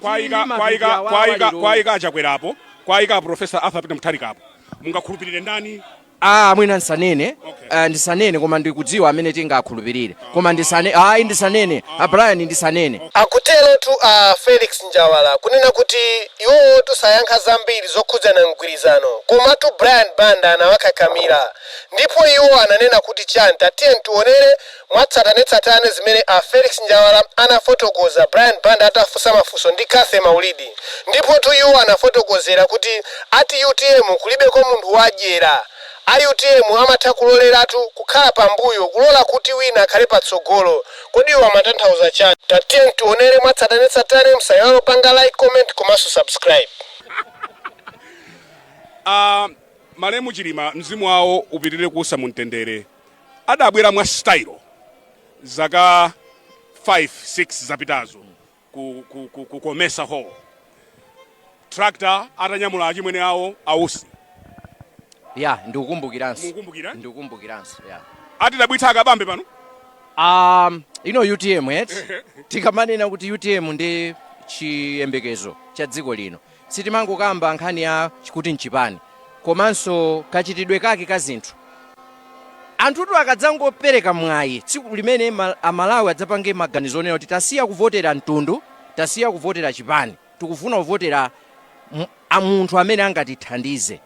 kwaika kwaika kwaika kwaika achakwera apo kwaika aprofesa arthur peter mutharika apo mungakhulupirire ndani ah mwina ndisanene okay. uh, ndisanene koma ndikudziwa amene tingakhulupirire koma ndisane ayi ndisanene a brian ndisanene akuterotu a felix njawala kunena kuti iwowotu sayankha zambiri zokhudzana ndi mgwirizano komatu brian banda anawakakamira ndipo iwo ananena kuti chani tatiyeni tiwonere mwatsatanetsatane zimene a Felix Njawala anafotokoza Brian Banda atafunsa mafunso ndi Cathy Maulidi. Ndipotu iwo anafotokozera kuti ati utm kulibeko munthu wadyera. A utm amatha kuloleratu, kukhala pambuyo, kulola kuti wina akhale patsogolo. Kodi iwo amatanthauza chani? Tatiyeni tionere mwatsatanetsatane, musaiwale kupanga like, comment komanso subscribe. A malemu chilima mzimu wawo upitirire kuusa mumtendere. adabwera mwa style zaka 5 6 zapitazo ku, ku, ku, ku comesa hall tractor atanyamula achimwene awo ausi ya ndikukumbukiranso Mukukumbukira? ndikukumbukiranso ya atidabwitsa akabambe pano um, inu utm eti tikamanena kuti utm ndi chiyembekezo cha dziko lino Sitimangokamba nkhani yachikuti n'chipani komanso kachitidwe kake ka zinthu. Anthutu akadzangopereka mwayi, tsiku limene Amalawi adzapange maganizo onena kuti tasiya kuvotera mtundu, tasiya kuvotera chipani, tikufuna kuvotera munthu amene angatithandize,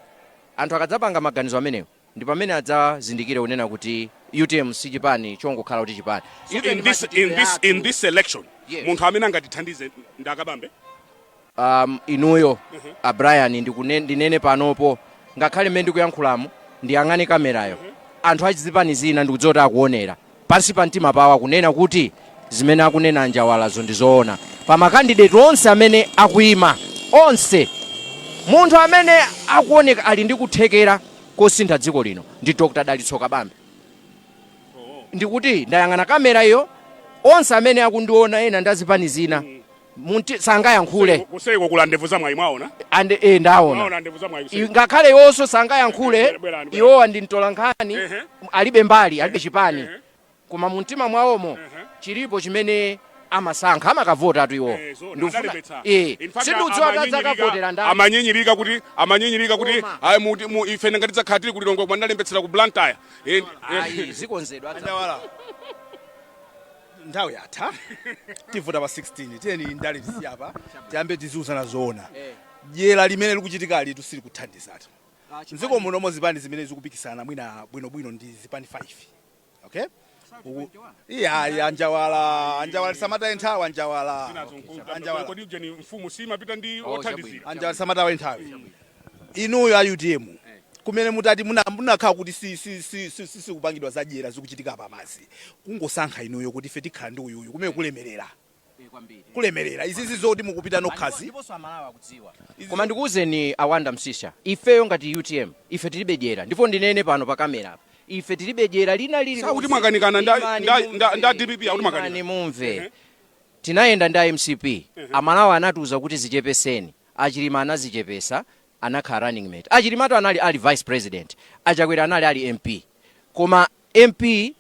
anthu akadzapanga maganizo amenewo, ndi pamene adzazindikire kunena kuti utm si chipani chongokhala kuti chipani So in Even this, in machitidwe this, in athu, this election Yes. munthu amene angatithandize ndi akabambe um, inuyo a brian ndikune- ndinene panopo ngakhale mmene ndikuyankhulamu ndiyang'ane kamerayo anthu achizipani zina ndikudziwa kuti akuonera pansi pa mtima pawo akunena kuti zimene akunena anjawalazo ndi zoona pa makandideti onse amene akuima onse munthu amene akuoneka ali ndi kuthekera kosintha dziko lino ndi dr dalitso kabambe ndikuti ndayang'ana kamera iyo onse amene akundiona ena ndi azipani zina Mwina sangayankhule. Kuseliko kuli a ndevu za mwayi mwaona? And eh ndaona. Mwaona ndevu za mwayi. Ngakhale iwonso sangayankhule iwowa ndi mtola nkhani alibe mbali alibe chipani. Koma mumtima mwawomo chilipo chimene amasankha amakavotatu iwowa eh, ndikufuna eh sindikudziwa kuti adzakavotera ndani amanyinyirika kuti amanyinyirika kuti ayi mu ife ngati tidzakhale tili ku Lilongwe koma tinalembetsera ku Blantyre eh, eh. zikonzedwa nthawi yatha tivota pa 16 tiyeni ndale tisiye apa tiyambe tiziuzana zoona dyera limene likuchitika alitu silikuthandizatu mdziko muno mo zipani zimene zikupikisana mwina bwinobwino ndi zipani 5 okay Uku- iya iya anjawala anjawala tisamataye nthawi anjawala anjawala kodi ujeni mfumu simapita ndi Oh, othandizira anjawala tisamataye nthawi Inuyo a utm kumene mutati munakhala kuti sikupangidwa za dyera zikuchitika apapazi kungosankha inuyo kuti ife tikhala ndi uyuyu kumene kulemelera kulemelera izizi zoti mukupita nokhazi Koma ndikuuzeni a Wonder Msiska, ifeyo ngati utm ife tilibe dyera ndipo ndinene pano pa camera apa, ife tilibe dyera lina lili Akuti lonse. mwakanikana nda- Imani nda- mumve, nda- nda DPP, akuti mwakanikana. imani mumve. Tinayenda ndi a mcp, amalawi anatiuza kuti zichepeseni. A Chilima anazichepetsa anakhala running mate a Chilimatu anali ali vice president a Chakwera anali ali mp koma mp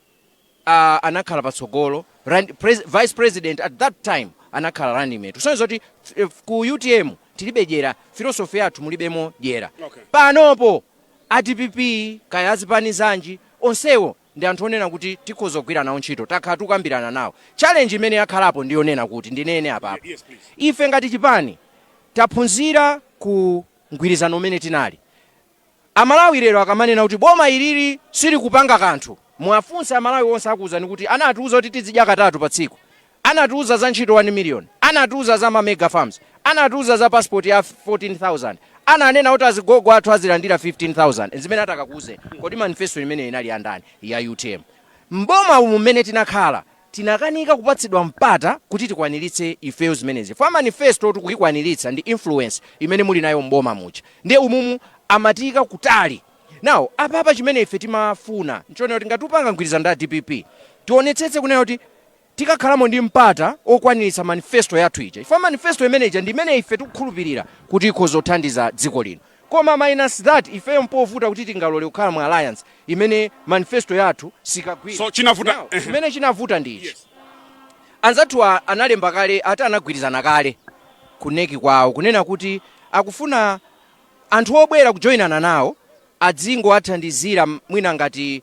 anakhala patsogolo rand pres vice president at that time anakhala running mate kusonyeza kuti ku utm tilibe dyera philosophy yathu mulibemo dyera okay panopo a dpp kaya azipani zanji onsewo ndi anthu onena kuti tikhoza kugwira nawo ntchito takhala tikukambirana nawo challenge imene yakhalapo ndi yonena kuti ndinene apapa ife ngati chipani taphunzira ku mgwirizano umene tinali amalawi lero akamanena kuti boma ilili silikupanga kanthu muwafunse amalawi onse akuwuzani kuti anatiwuza kuti tizidya katatu pa tsiku Anatiuza za ntchito 1 million, anatiuza za ma mega farms, anatiuza za passport ya 14,000, ananena kuti azigogo athu azilandira 15,000 nzimene atakakuuzeni. Kodi manifesto imeneyo inali ya ndani? Ya utm. M'boma umu mmene tinakhala tinakanika kupatsidwa mpata kuti tikwaniritse ifeyo zimenezi chifukwa manifestotu kuikwaniritsa ndi influence imene muli nayo m'boma muja ndiye umumu amatiika kutali. Now apapa chimene ife timafuna nchonena kuti ngati tupanga mgwirizano ndi a dpp tionetsetse kunena kuti. tikakhalamo ndi mpata okwaniritsa manifesto yathu ija chifukwa manifesto imene ija ndi imene ife tikukhulupirira kuti ikhoza kuthandiza dziko lino koma minus that ifeyo mpovuta kuti tingalole kukhala mu alliance imene manifesto yathu sikagwira so chinavuta Now, ehe. chimene chinavuta ndi ichi anzathu a- analemba kale ati anagwirizana kale ku nec kwawo kunena kuti akufuna anthu obwera kujoyinana nawo azingowathandizira m- mwina ngati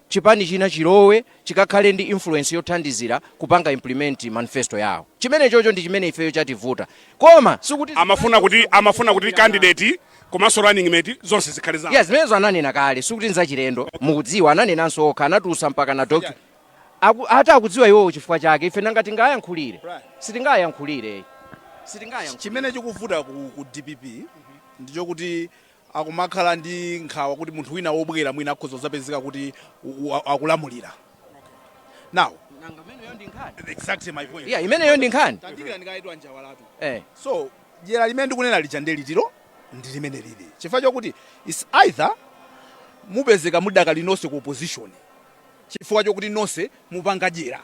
chipani china chilowe chikakhale ndi influence yothandizira kupanga implement manifesto yawo. Chimenechocho ndi chimene ifeyo chativuta. Koma sikuti zipani Amafuna kuti zikufuna amafuna kuti kuchita nawo. candidate komanso running mate zonse zikhale zawo. Yes, zimenezo ananena kale sikuti nzachilendo mukudziwa ananenanso okha anatulutsa mpaka na docu Aku, ati akudziwa iwowo chifukwa chake ife nanga tingayankhulire sitingayankhulire sitingayankhulire chimene chikuvuta ku, ku dpp ndichokuti akumakhala ndi nkhawa kuti munthu wina wobwera mwina akhoza kudzapezeka kuti u- u- akulamulira now Nanga imeneyo ndi nkhani. exactly my point Yeah, imeneyo ndi nkhani. tandidikirani kaye a Njawalatu Eh. so dyera limene ndikunena lija ndi ili, eti, ndi limene lili chifukwa chokuti is either mupezeka muli mudakali nonse ku opposition chifukwa chokuti nonse mupanga dyera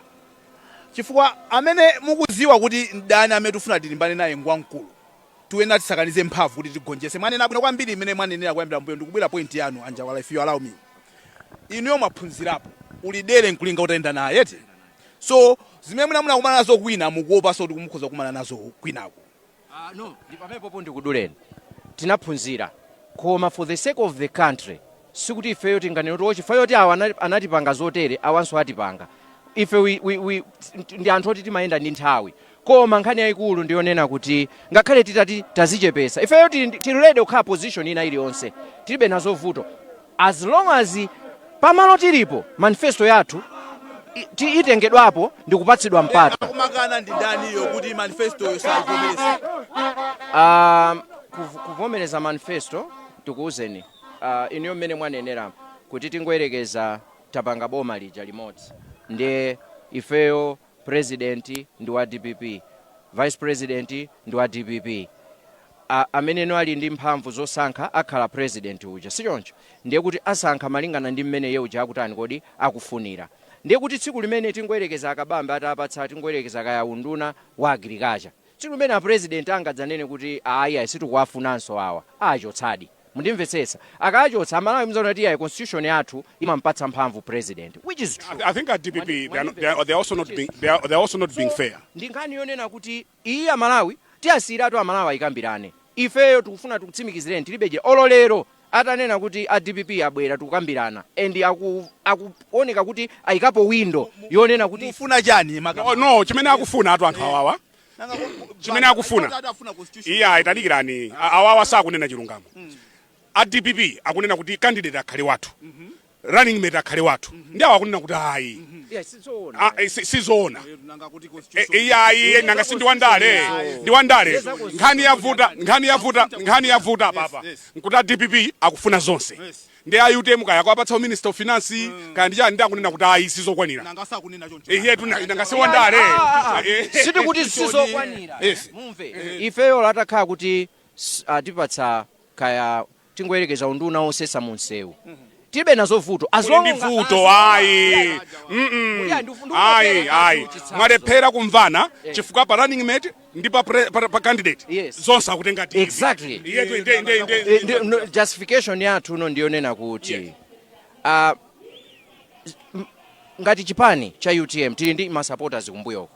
chifukwa amene mukuziwa kuti mdani amene tifuna tilimbane naye ngwamkulu Tuyenera tisakanize mphamvu kuti tigonjese. Mwanena bwino kwambiri mmene mwanenera kuyambira mbuyo ndikubwera point yanu a Njawala if you allow me. Inuyo mwaphunzirapo. Uli dere nkulinga utayenda naye eti? So zimene mwina munakumana nazo kwina mukuopaso kuti mukhoza kukumana nazo kwinaku. Ah no, ndipamenepopo ndikuduleni. Tinaphunzira koma for the sake of the country Sikuti ifeyo tinganene kuti, O, chifukwa choti awa anali, anatipanga zotere, awanso atipanga. Ife we, we, we, nt- ndi anthu oti timayenda ndi nthawi. Koma nkhani yayikulu ndi yonena kuti ngakhale titati tazichepesa, ifeyo tili, ndi- tili ready kukhala position ina iliyonse. Tilibe nazo vuto. As long as pamalo tilipo, manifesto yathu i- ti- itengedwapo ndi kupatsidwa mpata. Akumakana ndi ndani iyo kuti manifestoyo osaivomereza Um, kuv- kuvomereza manifesto tikuwuzeni Ah, inuyo mmene mwaneneramo kuti tingoyerekeza tapanga boma lija limodzi ndiye ifeyo president ndi wa dpp vice president ndi wa dpp a, amene no ali ndi mphamvu zosankha akhala president uja sichoncho ndiye kuti asankha malingana ndi mmene iye uja akutani kodi akufunira ndiye kuti tsiku limene tingoyerekeza a Kabambe atawapatsa tingoyerekeza kaya unduna wa agriculture Tsiku limene a president angadzanene kuti ayi ayi sitikuwafunanso awa, aachotsadi. Mundimvetsetsa? Akaachotsa, a Malawi mudzaona kuti iyayi constitution yathu imampatsa mphamvu president, which is true. I think a dpp they are not, they are, they are also not being, they are, they are also not being fair. Ndi nkhani yonena kuti iyi a Malawi, tiasiiratu a Malawi aikambirane. Ifeyo tikufuna tikutsimikizireni tilibe dyera. Olo lero atanena kuti a dpp abwera tikambirana and akuoneka kuti ayikapo window yonena kuti. Mufuna chani makamaka? No, no, chimene akufuna atu anthu awawa chimene akufuna iyayi tadikirani awawa sakunena chilungamo a dpp akunena kuti candidate akhale wathu running mate akhale wathu mm -hmm. ndi awa akunena kuti ayi yeah, sizoona iyayi nanga si ndiwandale ndiwandale nkhani yavuta nkhani yavuta nkhani yavuta apapa nkuti a dpp akufuna zonse yes ndi a utm kaya kuwapatsa minister of finance mm. kaya ndi chani ndi akunena kuti ayi sizokwanira eyetu nanga si wandale ah, ah, ah. eh. sitikuti sizokwanira mumve eh. ifeyo ola atakhala kuti atipatsa kaya tingoyerekeza unduna wosesa mu msewu tilibe nazo vuto as Kuli long ndi nga- vuto as long- ayi Yeah, Mm-mm. yeah, ndifu- ndifu- ayi ndifu- ayi ndifu- mwalephera kumvana chifukwa pa running mate ndi pa, pre- pa, pa candidate Yes. zonse akutenga DPP. Exactly. Iye tu- inde- inde- inde- Eh, ndi- no, justification yathu ino ndiyonena kuti Yes. ah, m- ngati chipani cha utm tili ndi masupporters kumbuyoko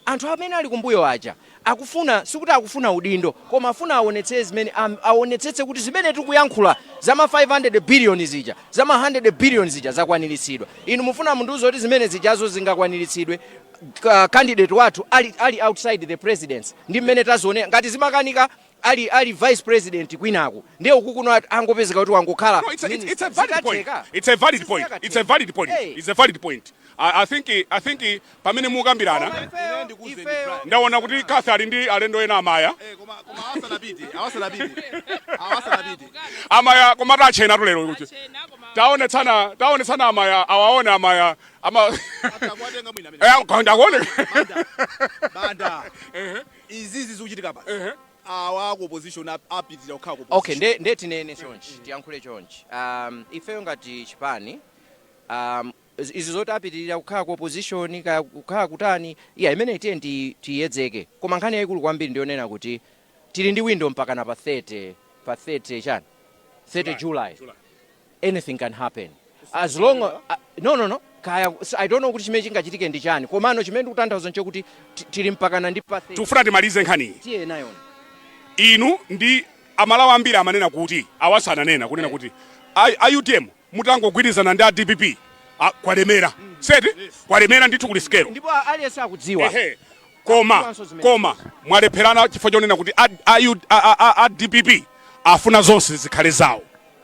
Anthu amene ali kumbuyo aja akufuna sikuti akufuna udindo koma afuna awonetsee zimene awonetsetse kuti zimene tikuyankhula za ma 500 billion zija za ma 100 billion zija zakwanilitsidwa. Inu mufuna mundiuze kuti zimene zijazo zingakwanilitsidwe candidate wathu ali ali outside the presidency ndi mmene tazionera? Ngati zimakanika ali ali vice president kwinaku ndiye ukukuno angopezeka kuti wangokhala minister zikatheka it's a valid point it's a valid point it's a valid point i think i think pamene mukambirana ndaona kuti kafe ali ndi alendo ena amaya amaya koma tachenatu lero kuti taone tsana taone tsana amaya awaone amaya ama ndakuone banda Izizi zikuchitika apa awa aku opposition apitilira kukhala ku opposition. Okay nde, nde tinene chonchi tiyankhule chonchi um, ifeyo ngati chipani um, izi zoti apitilira kukhala ku opposition kaya kukhala kutani iya imene tiye tiyedzeke koma nkhani yayikulu kwambiri ndiyonena kuti tili ndi window mpakana pa 30 pa 30 chani 30 July, July. July. anything can happen as long uh, no no no kaya s- i don't know kuti chimene chingachitike ndi chani komano chimene ndikutanthauza nchokuti ti- tili mpakana ndi pa tikufuna timalize nkhaniyi tiye nayo inu ndi amalawi ambiri amanena kuti awanso ananena kunena kuti a- a utm mutangogwirizana ndi a dpp a- kwalemera seti kwalemera ndithu kuli sikelo ndipo a- aliyense akudziwa Ehe. koma Akudziwanso zimene koma mwalepherana chifukwa chonena kuti a- a- a- a- a dpp afuna zonse zikhale zawo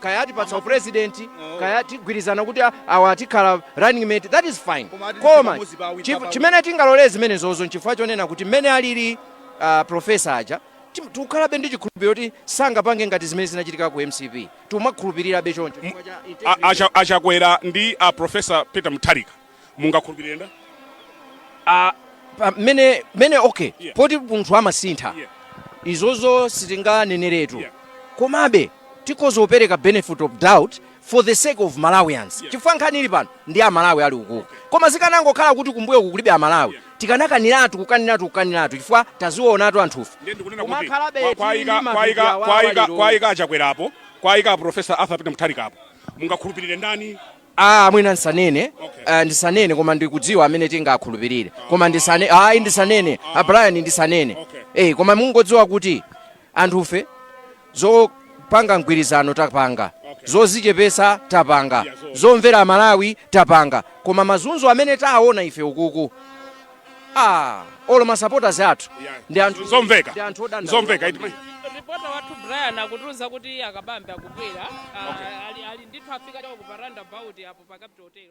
kaya atipatsa upresident kaya tigwirizana kuti a- awa tikhala running mate that is fine Koma ati koma pamodzi pa awiri, chif- pa- chimene tingalolere zimenezozo nchifukwa chonena kuti mmene alili uh, profesa aja tim- tikukhalabe ndi chikhulupiriro kuti sangapange ngati zimene zinachitika ku mcp timakhulupirirabe choncho chifukwa cha integrity. A- acha- achakwera ndi a profesa peter mutharika mungakhulupirire ndani Ah, pa- mene mene okay Yeah. poti munthu amasintha Yeah. izozo sitinganeneretu Yeah. komabe tikhoza kupereka benefit of doubt for the sake of malawians Yeah. chifukwa nkhani ili pano ndi amalawi ali ukuku koma zikanangokhala kuti kumbuyoku kulibe amalawi Yeah. tikanakaniratu kukaniratu kukaniratu chifukwa taziwonatu anthufe ndiye ndikunena Koma kuti akhalabe kwa- kwaika- tili kwaika- mavidiyo kwaika- awawaliro. kwaika achakwerapo kwaika profesa arthur peter mutharikapo mungakhulupirire ndani Aaa mwina ndisanene eh, ndisanene koma ndikudziwa amene tingakhulupirire koma ndisane ayi ndisanene a Brian ndisanene eh koma mungodziwa kuti anthufe zopanga mgwirizano tapanga zozichepesa tapanga zomvera aMalawi tapanga koma mazunzo amene taona ife ukuku Ah, olo ma supporters athu ndi anthu Zomveka. ndi anthu odandaula. Zomveka. Iti- ripota wathu brian akutiuza kuti akabambe akubwera Ah, ali, ali ndithu afika cha uku pa roundabout apo pa capital hotel